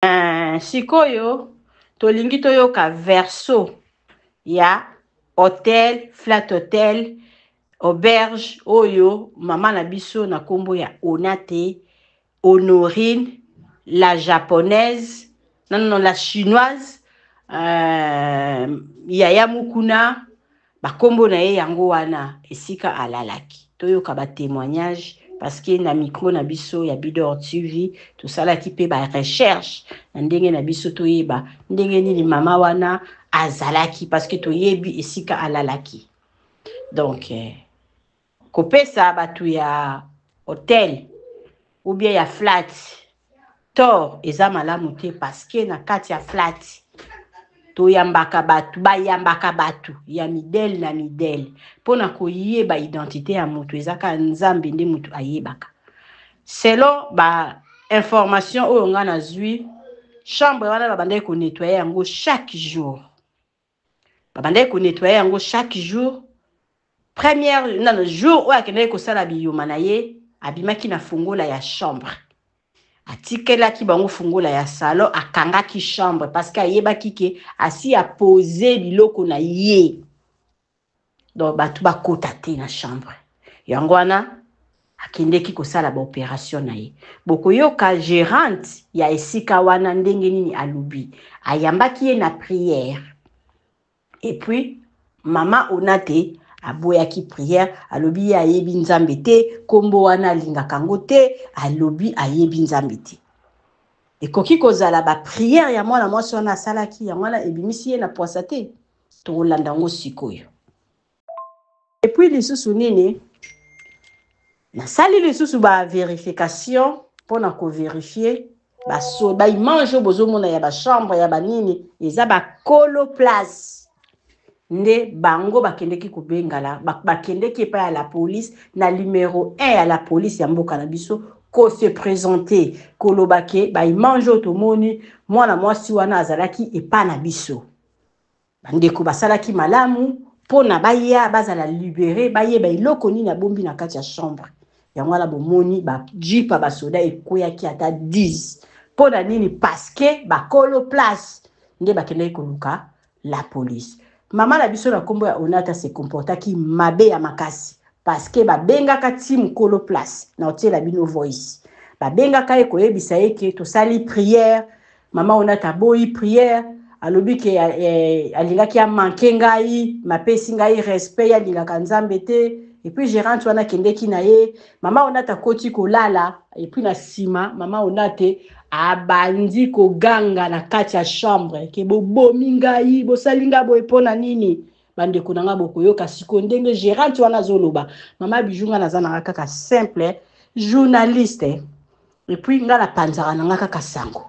Eh, sikoyo tolingi toyoka verso ya hotel flat hotel auberge oyo mama na biso na nkombo ya onate honorine la japonaise non, non, la chinoise euh, yaya mukuna Ba kombo na ye yango wana esika alalaki. Toyoka ba temoignages parce que na micro na biso ya Bidor TV tosalaki pe ba recherches na ndenge na biso toyeba ndenge nini mama wana azalaki parce que toyebi esika alalaki. Donc, Kopesa batu ya hotel ou bien ya flat tort eza malamu te parce que na kati ya flat toyambaka batu bayambaka batu ya midele na midele mpo na koyeba identite ya mutu eza kaka nzambe nde mutu ayebaka selon ba information oyo ngai nazwi chambre wana babandaki konettoye yango chaque jour babandaki ko nettoyer yango chaque jour première na jour oyo akendaki kosala biyuma na ye abimaki na fungola ya chambre atikelaki bango fungola ya salon akangaki chambre parce que ayebaki ke asi apose biloko na ye donc bato bakota te na chambre yango wana akendeki kosala baoperation na ye bokoyoka gerante ya esika wana ndenge nini alobi ayambaki ye na priere epuis mama ona te aboyaki priere alobi ye ayebi nzambe te nkombo wana alingaka yango te alobi ayebi nzambe te ekoki kozala bapriere ya mwana mwasi wana asalaki yango wana ebimisi ye na pwasa te Tokolanda yango sikoyo. Et puis lisusu nini? Nasali lisusu ba verification pona ko verifier ba so ba image oyo bozomona ya ba chambre ya ba nini eza ba kolo place nde bango bakendeki kobengala bakendeki epai ya la police na numero 1 ya la police ya mboka na biso ko se presenter koloba ke ba image oyo tomoni mwana mwasi wana azalaki epai na biso bandeko basalaki malamu mpo na baya bazala libere bayeba eloko nini abombi na kati ya chambre yango wana bomoni bajipa basoda ekweyaki ata 10 mpo na nini paske bakolo place nde bakendaki koluka la police mama na biso na nkombo ya onata se comportaki mabe ya makasi paske babengaka ti mokolo place na otiela bino voice babengaka ye koyebisa ye ke tosali priere Maman Onata aboyi prière alobi ke eh, alingaki amanke ngai mapesi ngai respect ye alingaka nzambe te epuis gerante wana akendeki na ye mama onata akoti kolala epuis na nsima mama onate abandi koganga na kati ya chambre ke bobomi ngai bosali ngai boye mpo na nini bandeko na ngai bokoyoka siko ndenge gerante wana azoloba mama bijou ngai naza na ngai kaka simple journaliste Et puis nga na panzaka na nga kaka sango.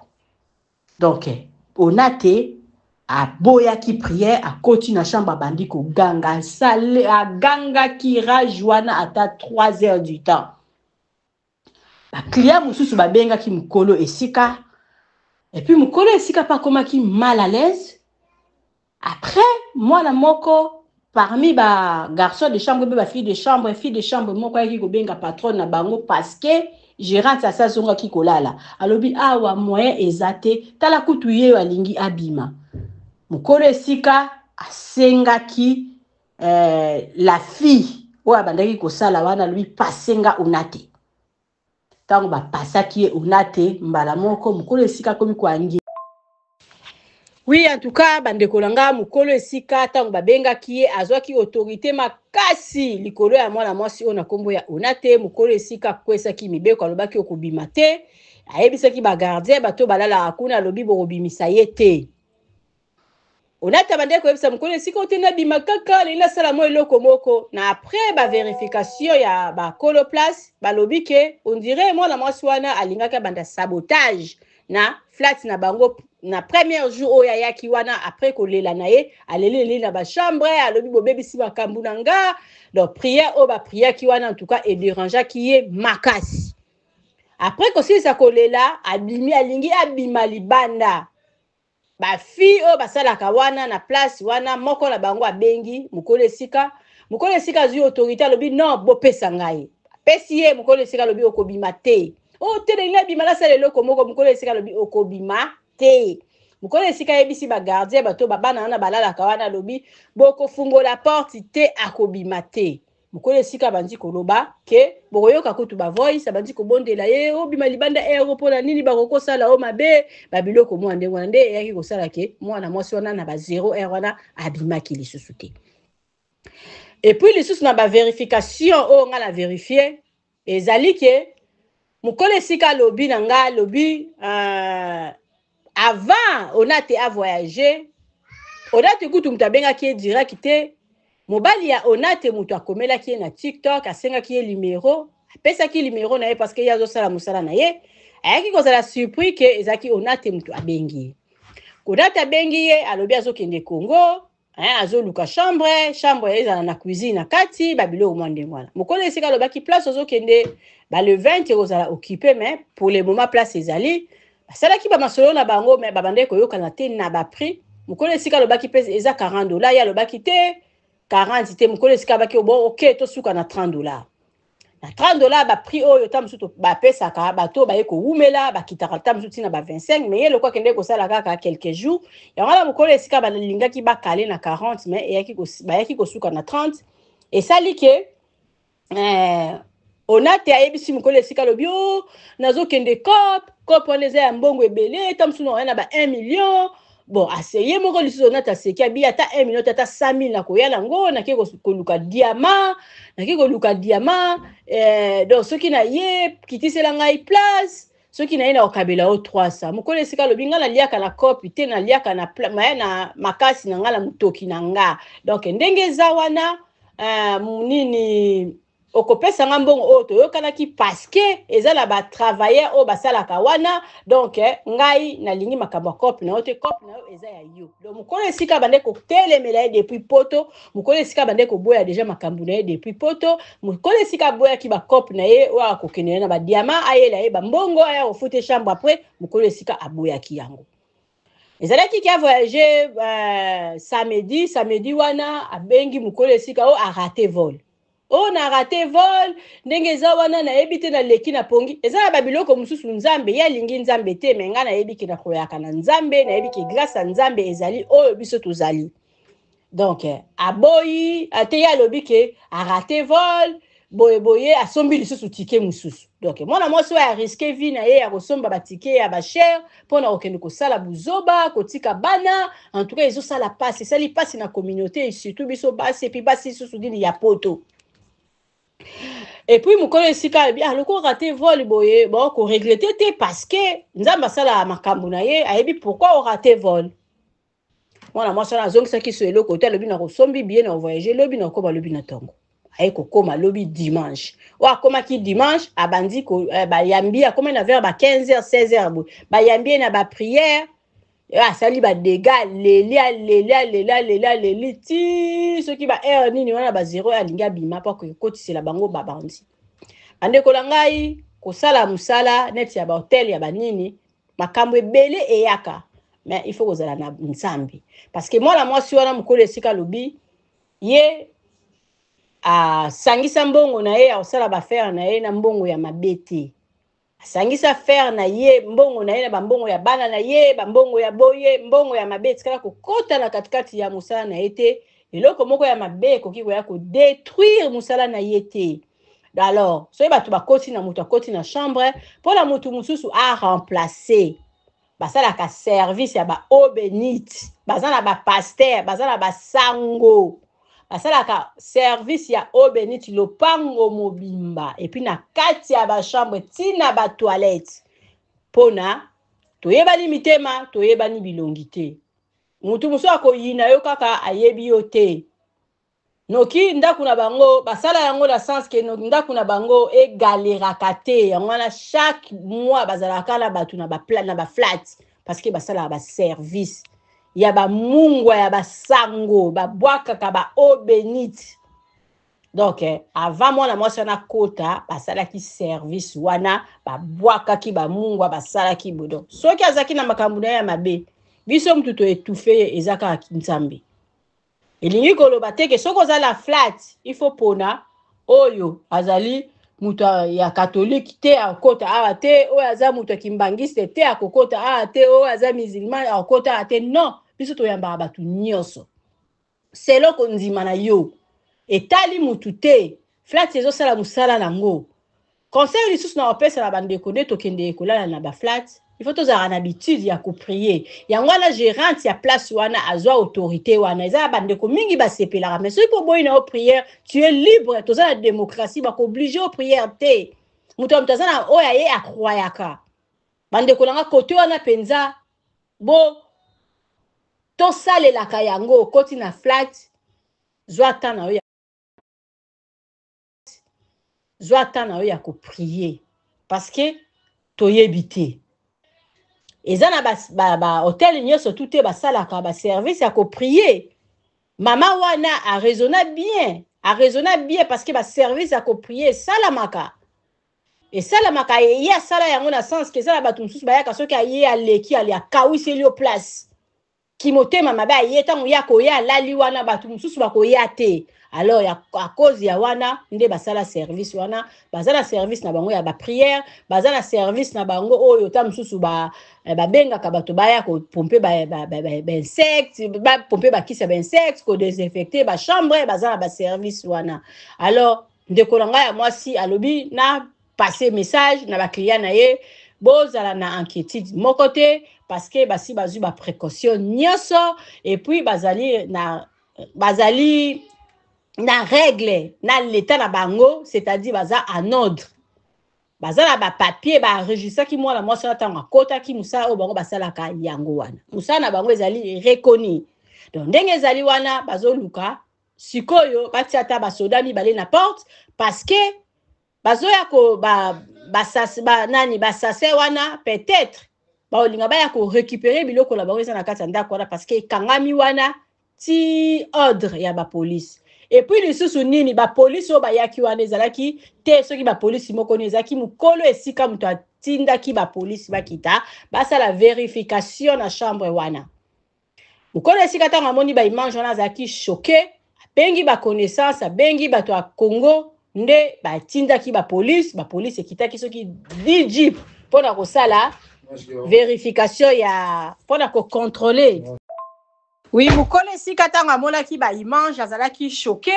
Donc Onate aboyaki prière akoti na chambre abandi koganga sale agangaki rage wana ata 3 heures du temps bacliya mosusu babengaki mokolo esika epuis mokolo esika mpe akomaki mal à l'aise Après, mwana moko parmi ba garçons de chambre mpe ba filles de chambre, fille de chambre moko ayaki kobenga patronne na bango parce que gerante asi azongaki kolala. Alobi awa moyen eza te, tala kutu ye oyo alingi abima. Mokolo esika asengaki eh, la fille oyo abandaki kosala wana, alobi passe nga unate. Tango ba pasaki ye onate mbala moko mukolo esika akomi koangi. Oui en tout cas ba ndeko na nga mukolo esika tango ba bengaki ye azwaki autorite makasi likolo ya mwana mwasi oyo na kombo ya onate mukolo esika akwesaki mibeko alobaki okobima te ayebisaki ba gardien bato balalaka kuna alobi bokobimisa ye te. Onata abandaki koyebisa mokolo esika ote nabima kaka nalingi nasala mwa eloko moko na après ba verification ya bakolo place balobi ke ondire mwana mwasi wana alingaki abanda sabotage na flat na bango na première jour oyo ayaki wana après kolela na ye aleli leli na bachambre alobi bobebisi makambo na nga donc prière oyo bapriaki wana en tout cas ederangeaki ye makasi après kosilisa kolela abimi alingi abima libanda ba fille oyo basalaka wana na place wana moko na bango abengi mokolo esika mokolo esika azwi autorité alobi non bopesa ngai apesi ye mokolo esika alobi okobima te o oh, te nalingi abima nasala eloko moko mokolo esika alobi okobima te mokolo esika ayebisi bagardien bato babana wana balalaka wana alobi bokofungola porte te akobima te mokolo esika abandi koloba ke bokoyoka kutu ba voice abandi kobondela ye obima oh, libanda ero eh, mpona nini bakokosala o oh, mabe babiloko mwa ndenge wana nde eyaki kosala ke mwana mwasi wana na ba zero ere wana abimaki lisusu te epuis lisusu na baverification oyo oh, ngai na verifie Ezali ke mukolo esika alobi na nga alobi uh, avant Onate a voyage Onate kutu moto abengaki ye direct te mobali ya Onate moto akomelaki ye na TikTok asengaki ye limero apesaki limero na ye parce que ye azosala mosala na ye ayaki kozala surpris ke ezalaki Onate moto abengi ye Onate abengi ye alobi azokende Congo eh, azoluka chambre chambre ezala na cuisine na kati babiloko mwa ndenge wana mokolo esika alobaki place ozokende ba le 20 ekozala occupe mais pour le moment place ezali basalaki bamasolo na bango mais babandaki koyokana te na baprix mokolo esika alobaki mpe eza 40 dola ye alobaki te 40 te mokolo esika abaki obo ok tosuka na 30 dola na 30 dollars ba prix oyo ta mosusu bapesaka bato oyo baye kowumela bakitaka ta mosusu ntina ba 25 mais ye lokola akendeki kosala kaka quelques jours yango wana mokolo esika balingaki bakale na 40 mais eyaki bayaki kosuka na 30 esali ke eh, onate ayebisi mokolo esika alobi o oh, nazokende cop cop wana eza ya mbongo ebele ta mosusu na wana ba 1 million bon ase ye moko lisusu onati aseki abi ata 1 million te ata 5000 nakoya nango nake koluka diama nake koluka diama eh, donc soki na ye kitisela ngai place soki na ye nakokabela yo 300 mokolo esika alobi ngai naliaka na kopi te naliaka na, na, na makasi na ngai na motoki na nga donc ndenge eza wana uh, nini okopesa nga mbongo oyo toyokanaki paske eza na ba travailleur oyo basalaka wana donc eh, ngai nalingi makambo ya cope na yo te cope na yo eza ya yo donc mokolo esika bande kotelemela ye depuis poto mokolo esika bande koboya deja makambo na ye depuis poto mokolo esika aboyaki bacope na ye oyo akokende na ye na badiama ayela ye bambongo aya kofute chambre après mokolo esika aboyaki yango ezalaki ke avoyage uh, samedi samedi wana abengi mokolo esika oyo arate vol oyo na rate vol ndenge eza wana nayebi te naleki na pongi eza na babiloko mosusu nzambe ye alingi nzambe te me ngai nayebi ke nakoyaka na nzambe nayebi ke grâce ya nzambe ezali oyo biso tozali donc eh, aboyi ate ye alobi ke arate vol boye boye asombi lisusu tike mosusu donc mwana mwasi oyo ariske vie na ye ya kosomba batike ya bachere mpo na kokende kosala buzoba kotika bana en tout cas ezosala mpasi esali mpasi na communauté surtout biso basi epuis basi lisusu nini ya poto epuis mokolo esika alobi ah lokola rate vol boye bo koregrete te parce que nzambe asala makambo na ye ayebi pourquoi orate vol mwana mwasi wana azongisaki so eloko te alobi nakosombi biye na kovoyage lobi na kokoma lobi na ntongo aye kokoma lobi dimanche oyo akomaki dimanche abandi eh, bayambi akomaki na vers ba 15 h 16 h boye bayambi ye na baprière eh, asali badega aleli aleli aleli aleli aleli ti soki ba heure nini wana ba zero alingi abima mpo akokotisela bango babandi bandekola ngai kosala mosala neti ya bahotel ya banini makambo ebele eyaka mais il faut kozala na nzambe parce que mwana mwasi wana mokolo esika alobi ye asangisa mbongo na ye akosala bafere na ye na mbongo ya mabe te asangisa fere na ye mbongo na ye na bambongo ya bana na ye bambongo ya boye mbongo ya mabe etikala kokota na katikati ya mosala na ye te eloko moko ya mabe ekoki koya kodetruire mosala na ye te alors soki bato bakoti na moto akoti na chambre mpo na moto mosusu a remplace basalaka service ya baobenite baza na bapaster baza na basango basalaka service ya obenite lopango mobimba epuis na kati ya bachambre ntina batoilette mpo na toyebani mitema toyebani bilongi te moto mosusu akoyina yo kaka ayebi yo te Noki ndaku na bango basala yango na sens que noki ndaku na bango e galeraka te yango wana chaque mois bazalaka kaka na batu na ba na ba flat parce que basalaka ba service ya ba mungwa ya ba sango babwakaka ba eau benite donc eh, avant mwana mwasi wana akota basalaki service wana babwakaki bamungwa basalaki bo donc soki azalaki na makambo na ye ya mabe biso motu toetufe ye eza kaka nzambe elingi koloba te ke soki oza na flat il faut pona oyo azali moto ya katolike te akokota awa te oyo aza moto ya kimbangiste te akokota awa te oyo aza musulman akokota awa te non biso toyambaka bato nyonso selo kondima na yo etali motu te flati ezosala mosala nango Conseil lisusu na opesa na bandeko nde tokendeke kolala na ba flat il faut tozalaka na habitude ya koprie yango wana gerante ya place wana azwa autorité wana eza ya bandeko mingi basepelaka mais soki oboyi na yo prière tu es libre toza na démocratie bakooblige yo prière te moto ya moto aza na oyo aye akroyaka bandeko na nga kote wana mpenza bo tosalelaka yango okoti na flat zwa temps na yo zwa temps na yo ya koprier parce que toyebi te eza na bahotel ba, ba nyonso tu te basalaka baservice ya koprier mama wana araisonna bien araisonna bien parce que baservice ya koprier esalamaka esalamaka ye asala yango na sens ke eza na bato mosusu bayaka soki aye aleki ali akawiseli yo place kimotema mabe aye ntango ye akoya alali wana bato mosusu bakoya te alors ya à cause ya wana nde basala service wana baza na service na bango ya ba prière baza na service na bango oyo oh, ta mosusu ba eh, babengaka bato baya kopompe bainsecte bapompe bakisi ya bainsecte kodesinfecte bachambre baza na baservice wana alors ndeko na ngai ya mwasi alobi na passer message na ba clients na ye bozala na inquiétude moko te parce que basi bazwi ba précaution nyonso et puis bazali na bazali na règle na leta na bango c'est-à-dire baza en ordre baza na bapapier baenregistraki mwana mwasi wana ntango akotaki mosala oyo bango basalaka yango wana mosala na bango ezali reconi donc ndenge ezali wana bazoluka sikoyo batia ata basoda mibale na porte parce que bazoya ko ba basas ba nani basase wana peut-être baolinga baya ko récupérer biloko na bango eza na kati ya ndako wana parce que ekangami wana ti ordre ya bapolice epuis lisusu nini bapolisi oyo bayaki wana ezalaki te soki bapolisi moko nini ezalaki mokolo esika moto atindaki bapolisi bakita basala verification na chambre wana mokolo esika ntango amoni ba image wana azalaki choke abengi ba connaissance abengi bato ya congo nde batindaki ba police ba police ekitaki soki 10 jeep mpo na kosala verification ya mpo na kocontrole wi mokolo esika ntango amonaki ba image azalaki choke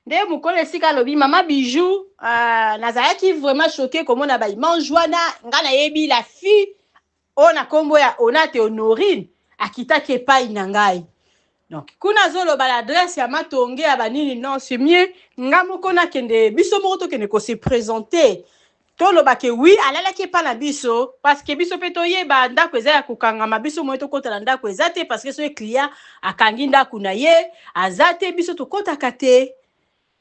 nde mokolo esika alobi mama bijou uh, nazalaki vraiment choke komona ba image wana ngai nayebi la fille oyo na kombo ya onate honorine akitaki epai na ngai donc kuna azoloba na adresse ya matonge ya banini non c'est mieux nga moko nakende biso moko tokende ko se présenter toloba ke wi alalaki epa na biso parce que biso mpe toyeba ndako eza ya kokangama biso moye tokota na ndako eza te parce que soki client akangi ndako na ye aza te biso tokotaka te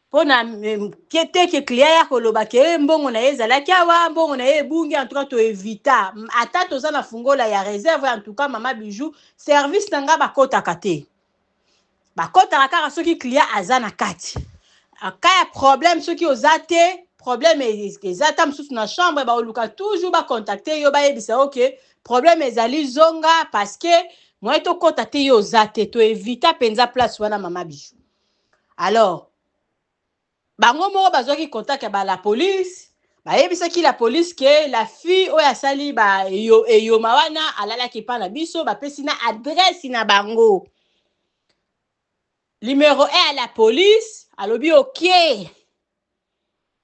mpo na teke client ya koloba ke mbongo na ye ezalaki awa mbongo na ye ebungi en tout cas toevita ata toza na fungola ya reserve en tout cas mama bijou service na ngai bakotaka te bakotaka kaka soki client aza na kati ka ya problème soki oza te problème eza ata mosusu na chambre baoluka toujours bacontacte yo bayebisa yo ke problème ezali zonga parce que moye tokɔta te yo oza te toevita mpenza place wana mama bijou alors bango moko bazwaki contact ya ba la police bayebisaki la police ke la fille oyo asali ba eyo- eyoma wana alalaki epai na biso bapesi na adresse na bango numero e ya la police alobi oke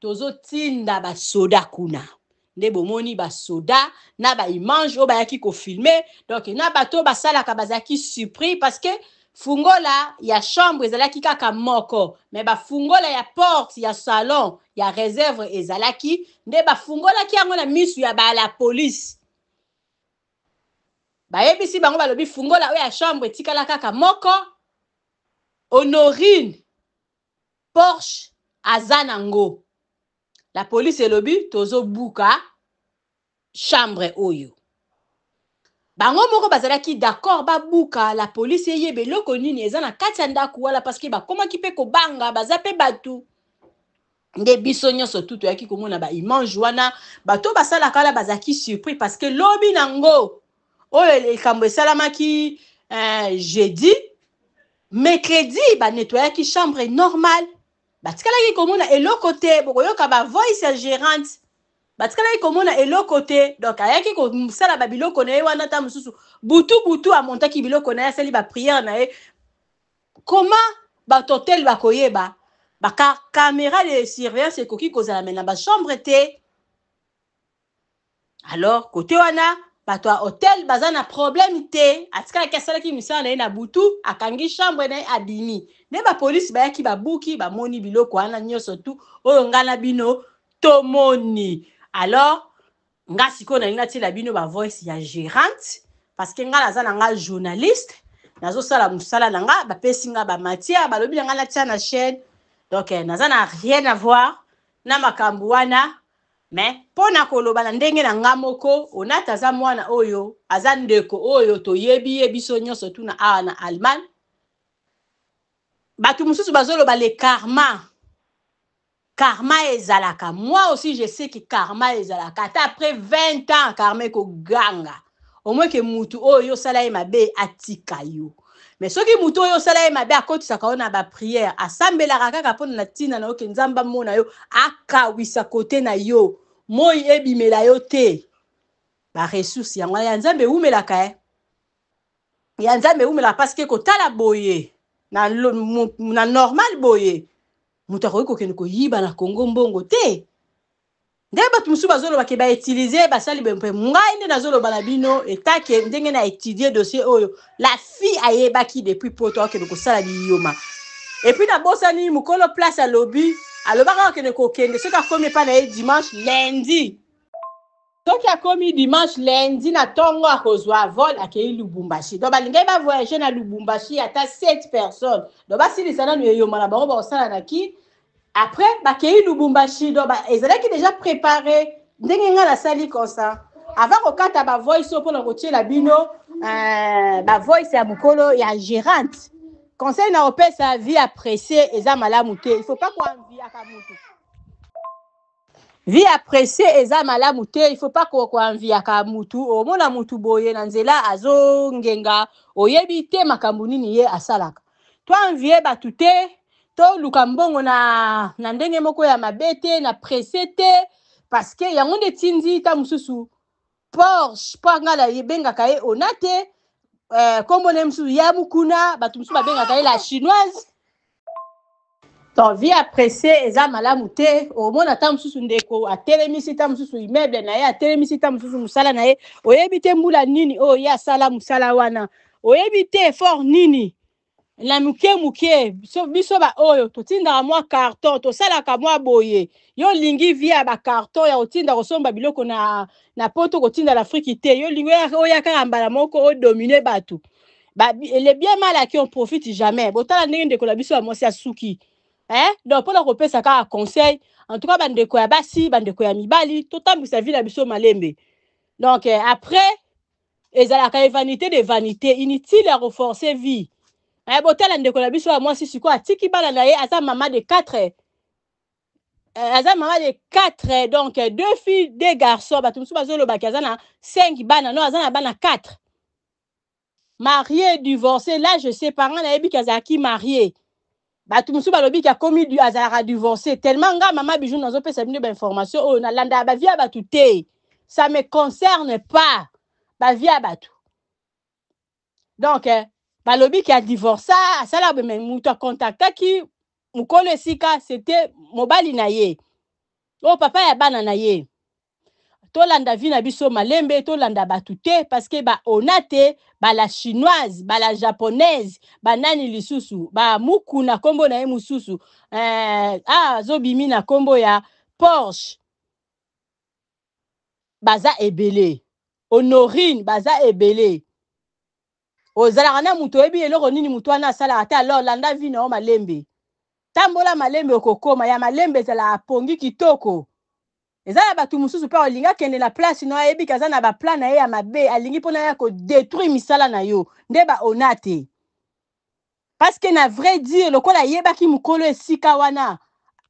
tozotinda basoda kuna nde bomoni basoda na baimage oyo bayaki kofilme donc na bato oyo basalaka bazalaki surpris parce que fungola ya chambre ezalaki kaka moko me bafungola ya porte ya salon ya reserve ezalaki nde bafungolaki yango na misu ya bala police bayebisi bango balobi fungola oyo ya chambre etikala kaka moko honorine Porsche aza na ngo. La police elobi tozo buka chambre oyo. Bango moko bazalaki d'accord ba buka la police eyeba eloko nini eza na kati ya ndaku wala parce que bakomaki pe kobanga baza pe batu. nde biso nyonso tu toyaki komona ba image wana bato basalaka wana bazalaki surpris parce que lobi na ngo oyo likambo esalamaki eh, jeudi Mercredi ba nettoyaki chambre normal batikalaki komona eloko te bokoyoka ba voice ya gerante batikalaki komona eloko te donc ayaki kosala ba biloko na ye wana ta mosusu butu butu amontaki biloko na ye asali ba prière na ye koma bato hotel bakoyeba ba camera de surveillance ekoki kozala me na ba chambre te alors kote wana bato ya hotel baza na problème te atikalaki asalaki misala na ye na butu akangi chambre na ye abimi nde bapolisi bayaki babuki bamoni biloko wana nyonso tu oyo ngai na bino tomoni alors ngai sikoyo nalingi natiela bino bavoice ya gérante parce que ngai naza na ngai journaliste nazosala mosala na ngai bapesi ngai bamatière balobi na ngai natia na chaîne donc eh, naza na rien avoir na makambo wana Mais pona koloba na ndenge na nga moko, Onata aza mwana oyo, aza ndeko oyo toyebi ye biso nionso tuna awa na Allemagne. Batu mususu bazoloba le karma, karma ezalaka, moi aussi je sais que karma ezalaka, ata après 20 ans karma ekoganga. au moins ke mutu oyo yo osala ye mabe atika yo mais soki mutu oyo osala ye mabe akotisaka yo na bapriere asambelaka kaka mpona na ntina na yo ke nzambe amona yo akawisa kote na yo moi ebimela yo te baressource yango wana ya nzambe ewumelaka eh? ya nzambe ewumelaka parce ke kotala boye na, na normal boye moto akoki kokende koyiba na kongo mbongo te Nde bato mosusu bazoloba ke ba utiliser basali boye mpe ngai nde nazoloba na bino etat ke ndenge na etudier dossier oyo la fille ayebaki depuis poto akende kosala biyoma et puis nabosani mokolo place alobi alobaka akende kokende soki akomi epai na ye dimanche lundi soki akomi dimanche lundi na tongo akozwa vol akei lubumbashi donc balingaki bavoyage na lubumbashi ata 7 personnes donc basilisa nanu eyoma na bango bakosala na kin Après bakeyi Lubumbashi donc ba ezalaki dejà prepare ndenge nga nasali konsa avant kokata ba voice oyo pona kotiela bino euh, ba voice ya mukolo ya gerante conseil na opesa vie ya presse eza malamu te il faut pas koanviaka mutu vie ya presse eza malamu te il faut pas ko- koanviaka mutu omona mutu boye na nzela azongenga oyebi te makambo nini ye asalaka To envier batu te, to luka mbongo na na ndenge moko ya mabe te, na presse te parce que yango nde tindi ta mususu Porsche po anga na ye bengaka ye ona te euh, kombo na ye mususu ya mukuna, batu mususu babengaka ye la chinoise Donc, vie à presser, eza malamu te. Omona ta mususu ndeko, atelemisi ta mususu immeuble na ye, atelemisi ta mususu musala na ye. Oyebi te mbula nini oyo ye asala musala wana. Oyebi te effort nini. Na muke muke, biso, biso ba oyo, totindaka mwa carton, tosalaka mwa boye. Yo lingi vie ya ba carton, ya kotinda kosomba biloko na, na poto, kotinda na Afrique te. Yo lingi oya, oya kaka mbala moko, odomine batu. ba, le bien mal acquis on profite jamais botala ndenge ndeko na biso ya mwasi asuki eh? donc mpona kopesa kaka conseil en tout cas bandeko ya basi bandeko ya mibali totambwisa vi na biso malembe donc eh, après ezalaka ye vanité de vanité inutile ya koforce vie eh, botala ndeko na biso ya mwasi sikoyo atiki bana na ye aza mama de 4 eh, aza mama de 4 donc deux filles deux garçons bato mosusu bazolobaki aza na 5 bana no aza na bana 4 marie divorce là je sais pas nga nayebi ki azalaki marie bato mosusu balobi ki akomi azalaka divorce tellement nga mama bijou nazopesa bino bainformation oyo nalandaka bavie ya bato te ça me concerne pas bavie ya bato donc eh, balobi ki adivorsa asala me moto akontaktaki mokolo esika c'était mobali na ye oyo oh, papa ya bana na ye tolanda vie na biso malembe tolanda batu te parce que ba ona te ba la chinoise ba la japonaise ba nani lisusu ba muku na kombo na ye mususu euh, ah azobimi na kombo ya Porsche baza ebele honorine baza ebele ozalaka na moto oyebi eloko nini moto wana asalaka te alors landa vi na yo malembe tambola malembe okokoma ya malembe ezalaka pongi kitoko eza na bato mosusu mpe olingi akende na place no ayebi ke aza na baplan na ye ya mabe alingi mpona ya kodetruire misala na yo nde baona te Parce que na vrai dire lokola ayebaki mukolo esika wana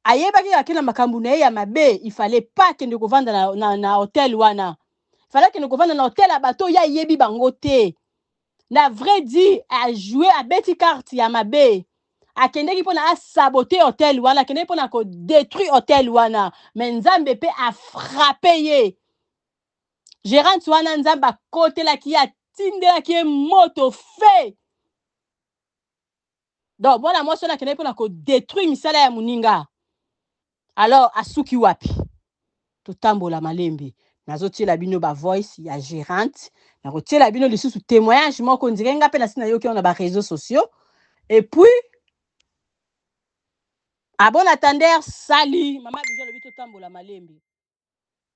ayebaki kaka ke na makambo na ye ya mabe il fallait pas kende kovanda na, na, na hotel wana il fallait kende kovanda na hotel ya bato oyo ayebi bango te na vrai dit ajoue abeti carte ya mabe akendeki mpona asabote hotel wana akendeki mpona kodétruire hotel wana me nzambe mpe afrappe ye gerante wana nzambe akotelaki ye atindelaki ye moto fe donc mwana mwasi wana akendaki mpona kodetruire misala ya moninga alors asuki wapi totambola malembe nazotiela bino bavoice ya gerante nakotiela bino lisusu témoignage moko ndire nga mpe nasi nayoki yango na bareseau sociaux epuis abona tander sali mama bijo alobi totambola malembe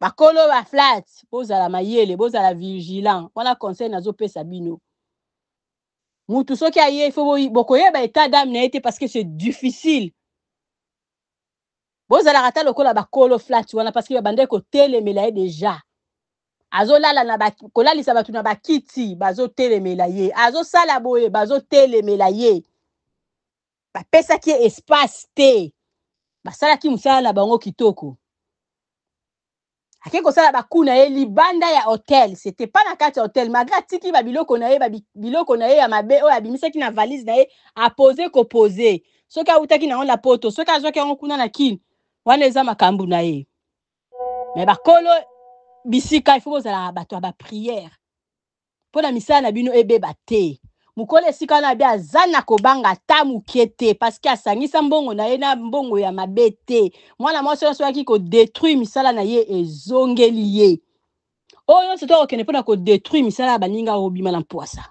bakolo ba flat bozala mayele bozala vigilant wana conseil nazopesa bino mutu soki aye fo bokoyeba etat dame na ye te parce que c'est difficile bozalaka ata lokola bakolo flat wana parce que babandaki kotelemela ye deja azolala na ba, kolalisa bato na bakiti bazotelemela ye azosala boye bazotelemela ye bapesaki ye espace te basalaki mosala na bango kitoko akei kosala baku na ye libanda ya hotel sete pa na kati ya hotel malgre atiki babiloko na ye babiloko na ye ya mabe oyo abimisaki na valise na ye apose kopose soki awutaki na yango na poto soki azwaki yango kuna na kine wana eza makambo na ye me bakolo bisika ifo bozalaka bato ya bapriere mpo na misala na bino ebeba te. Mokolo esika wana abe aza na kobanga ata moke te paske asangisa mbongo na ye na mbongo ya mabe te. Mwana mwasi wana soki ayaki kodetruire misala na ye ezongeli ye. Oyo nyonso to akokende mpo na kodetruire misala ya baninga okobima na mpwasa.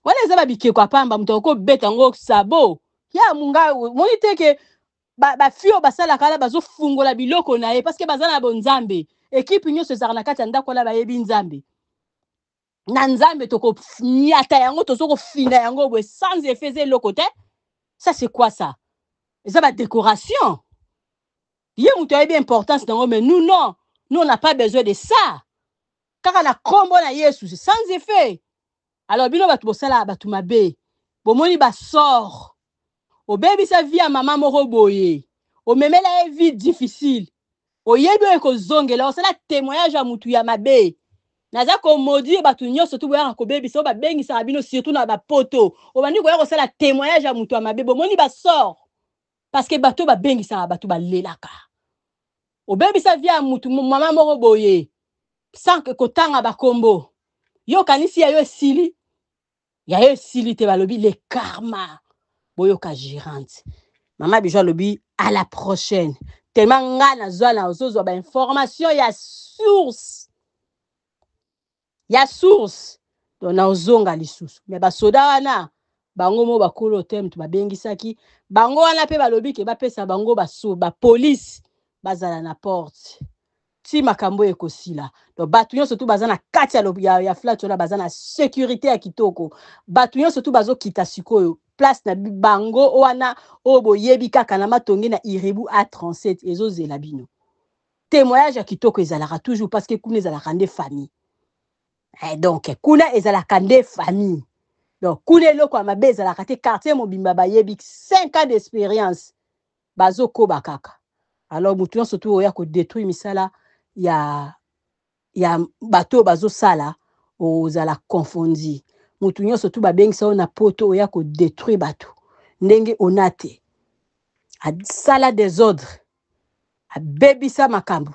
wana eza babikeko ya pamba moto akoki kobeta yango sabo ya munga omoni te ke bafi oyo basalaka wana bazofungola biloko na ye parceke baza na bonzambe ekipe nyonso ezalaka na kati ya ndako wana bayebi nzambe na nzambe tokonyata yango tozo kofina yango boye sans effet eza eloko te ça c'est quoi ça eza badécoration ye moto ayebi importance na yango mais nous non nous on n'a pas besoin de ça kaka na kombo na yesu c'est sans effet alors bino bato bosala bato mabe bomoni basor obebisa vie ya mama moko boye omemela ye vie difficile oyebi oyo ekozongela osala témoignage ya motu ya mabe naza komaudire bato nyonso tu boyaka kobebisa oyo babengisaka bino surtout na bapoto obandi koya kosala témoignage ya motu ya mabe bomoni basor Parce que bato oyo babengisaka bato balelaka. Obebisa vie ya mutu mama moko boye sans kotanga bakombo. Yo okanisi ya yo esili? Ya yo esili te balobi le karma. Boyoka gérante. Mama Bijou alobi à la prochaine. Tellement nga nazwa na ozozwa ba information ya source. ya source donc na ozonga lisusu mais ba soda wana bango mo bakolo hotel moto babengisaki bango wana pe balobi ke bapesa bango ba so ba police bazala na porte ti makambo oyo ekosila donc bato nyonso tu baza na kati ya, ya, ya flat wana baza na securite ya kitoko bato nyonso tu bazokita sikoyo place na bango wana oyo boyebi kaka na matonge na iribu a 37 ezozela bino temoignage ya kitoko ezalaka toujours parce que kuna ezalaka nde famille eh, donc kuna ezalaka nde famille donc kuna eloko ya mabe ezalaka te quartier mobimba bayebi 5 ans d'expérience bazokoba kaka alors moto nyonso tu oya kodétruire misala ya ya bato oyo bazosala ozala confondi motu nyonso tu babengisa yo na poto oya kodetruire bato ndenge ona te asala desordre abebisa makambo